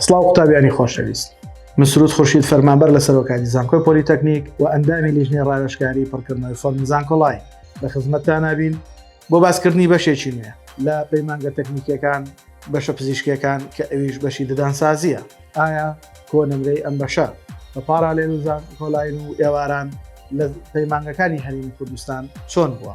سڵاو قوتابیانی خۆشەویست مسرود خورشید فەرمانبەر لە سەرۆکانی زانکۆی پۆلیتەکنیک و ئەندامی لیژنەی ڕاوێشکاری پڕکردنەوەی فۆرمی زانکۆڵای لە خزمەتتان نابین بۆ باسکردنی بەشێکی نوێ لە پەیمانگە تەکنیکیەکان بەشە پزیشکەکان کە ئەویش بەشی ددانسازیە ئایا کۆ نمرەی ئەم بەشە بە پاراێن و زان کۆلاین و ئێواران لە پەیمانگەکانی هەرمی کوردستان چۆن بووە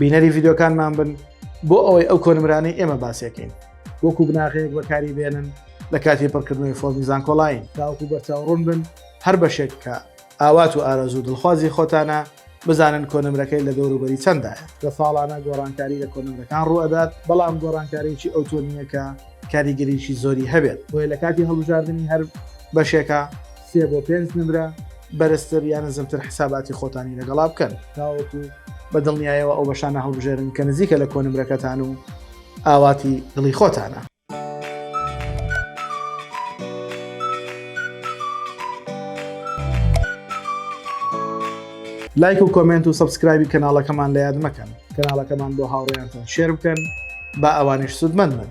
بینەری ڤیددیوکانمان بن بۆ ئەوەی ئەو کۆنمرانەی ئێمە باسیەکەین وەکو بناغەیەک بەکاری بێنن لە کاتی پڕکردنەوەی فۆمی زانکۆلاین تاوەکو بەرچاوڕون بن هەر بەشێک کە ئاوات و ئارەزوو دڵخوازی خۆتانە بزانن کۆنمرەکەی لە دەوروبەری چەندە لە ساڵانە گۆڕانکاری لە کۆنمرەکان ڕوئەدات بەڵام گۆڕانکاریی ئەوتۆنیەکە کاریگەریی زۆری هەبێت بۆیە لە کاتی هەڵبژاردننی هەر بەشێکە سێ بۆ پێنج نمرە بەرزتر یا نزمتر حساباتی خۆتانی لەگەڵا بکەن تاوەکو بە دڵنیایەوە ئەو بەشانە هەڵبژێرن کە نزیکە لە کۆنمرەکەتان و ئاواتی دڵی خۆتانە. لایک و کۆمنت و سبسکرایبی کەناڵەکەمان لە یاد مەکەن کەناڵەکەمان بۆ هاوڕێیانتان شێر بکەن با ئەوانیش سوودمەند بن.